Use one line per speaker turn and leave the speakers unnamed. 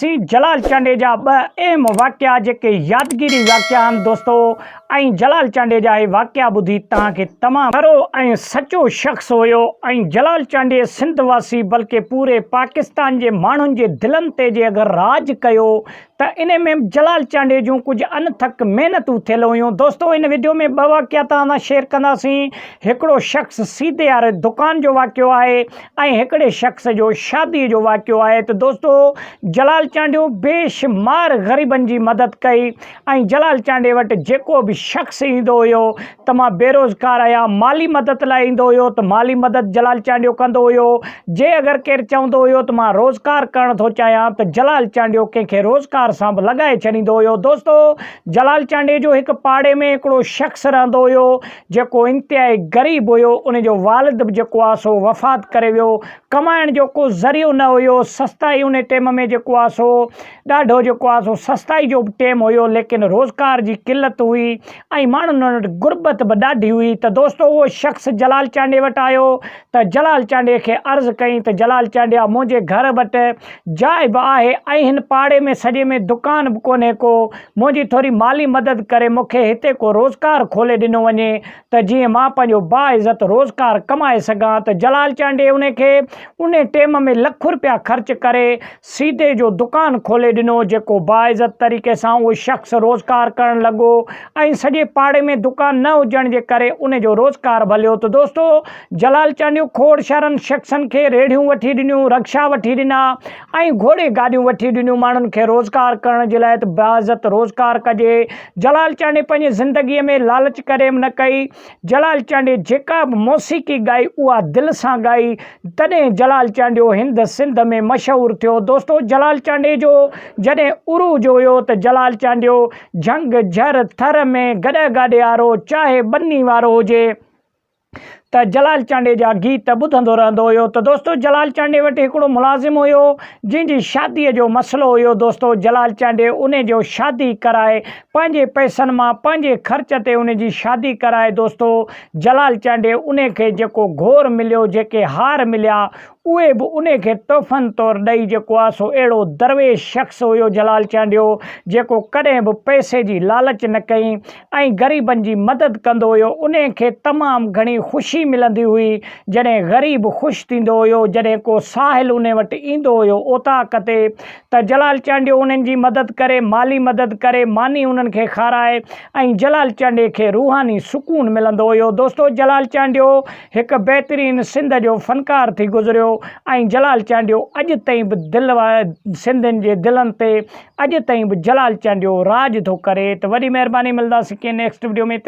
سي جلال چانڊيجا ٻه اهم واقعا جيڪي يادگيري واقعا آهن دوستو ۽ جلال چانڊيجا هي واقعا ٻڌي توهان کي تمام کرو ۽ سچو شخص هيو ۽ جلال چانڊيي سنڌ واسي بلڪه پوري پاڪستان جي ماڻهن جي دلن تي جي اگر راڄ ڪيو ته انهي ۾ به جلال چانڊيي جون ڪجهه انٿڪ محنتون ٿيل هيون دوستو ان ويڊيو ۾ ٻه واقعا توهان سان شيئر ڪنداسين هڪڙو شخص سيدي واري دڪان جو واقعو آهي ائين هڪڙي شخص جو شاديء جو واقعو آهي ته دوستو جلال چانڊيو بيشمار غريبن جي مدد ڪئي ۽ جلال چانڊي وٽ جيڪو به شخص ايندو هيو ته مان بيروزگار آهيان مالي مدد لاء ايندو هيو ته مالي مدد جلال چانڊيو ڪندو هيو جي اگر ڪير چوندو هيو ته مان روزگار ڪرڻ ٿو چاهيان ته جلال چانڊيو ڪنهن کي روزگار سان به لڳائي ڇڏيندو هيو دوستو جلال چانڊي جو هڪ پاڙي ۾ هڪڙو شخص رهندو هيو جيڪو انتهائي غريب هيو، ان جو والد به جيڪو آ سو وفات ڪري ويو، ڪمائڻ جو ڪو ذريعو نه هيو، سستائي ان ٽيم ۾ جيڪو آ سو ڏاڍو جيڪو آ سو سستائي جو به ٽيم هيو ليڪن روزگار جي قلت هئي ۽ ماڻهن وٽ غربت به ڏاڍي هئي ته دوستو اهو شخص جلال چانڊيي وٽ آيو ته جلال چانڊيي کي عرض ڪئين ته جلال چانڊيا منهنجي گهر وٽ جاء به آهي ۽ هن پاڙي ۾ سڄي ۾ دڪان به ڪونهي ڪو منهنجي ٿوري مالي مدد ڪري مون کي هتي ڪو روزگار کولي ڏنو وڃي ته جيئن مان پنهنجو باعزت روزگار ڪمائي سگهان ته جلال چانڊيي ان کي ان ٽيم ۾ لک رپيا خرچ ڪري سيدي جو دڪان کولي ڏنو جيڪو باعزت طريقي سان اهو شخص روزگار ڪرڻ لڳو ۽ سڄي پاڙي ۾ دڪان نه هجڻ جي ڪري ان جو روزگار ڀليو ته دوستو جلال چانڊيو کوڙ شهرن شخصن کي ريڙهيون وٺي ڏنيون رڪشا وٺي ڏنا ۽ گهوڙي گاڏيون وٺي ڏنيون ماڻهن کي روزگار ڪرڻ جي لاء ته باعزت روزگار ڪجي جلال چانڊي پنهنجي زندگي ۾ لالچ ڪڏهن به نه ڪئي جلال چانڊي جيڪا به موسيقي ڳائي اها دل سان ڳائي تڏهن جلال چانڊيو هند سنڌ ۾ مشهور ٿيو دوستو جلال چانڊي جو جڏهن عروج هيو ته جلال چانڊيو جهنگ جهر ٿر ۾ گڏهه گاڏي آرو چاهي ٻني وارو هجي ته جلال چانڊيي جا گيت ٻڌندو رهندو هيو ته دوستو جلال چانڊيي وٽ هڪڙو ملازم هيو جنهن جي شاديء جو مسئلو هيو دوستو جلال چانڊيي ان جو شادي ڪرائي پنهنجي پئسن مان پنهنجي خرچ تي ان جي شادي ڪرائي دوستو جلال چانڊيي ان کي جيڪو گهور مليو جيڪي هار مليا اهي به ان کي تحفن طور ڏئي جيڪو آ سو اهڙو درويش شخص هيو جلال چانڊيو جيڪو ڪڏهن به پئسي جي لالچ نه ڪئي ۽ غريبن جي مدد ڪندو هيو انهي کي تمام گهڻي خوشي ملندي هئي جڏهن غريب خوش ٿيندو هيو جڏهن ڪو ساحل انهي وٽ ايندو هيو اوطاق تي ته جلال چانڊيو انهن جي مدد ڪري مالي مدد ڪري ماني انهن کي کارائي ۽ جلال چانڊي کي روحاني سڪون ملندو هيو دوستو جلال چانڊيو هڪ بهترين سنڌ جو فنڪار ٿي گذريو ۽ جلال چانڊيو اڄ تائين به دل سنڌين جي دلن تي اڄ تائين به جلال چانڊيو راڄ ٿو ڪري ته وڏي مهرباني ملداسين ڪنهن نيڪسٽ وڊيو ۾ ته.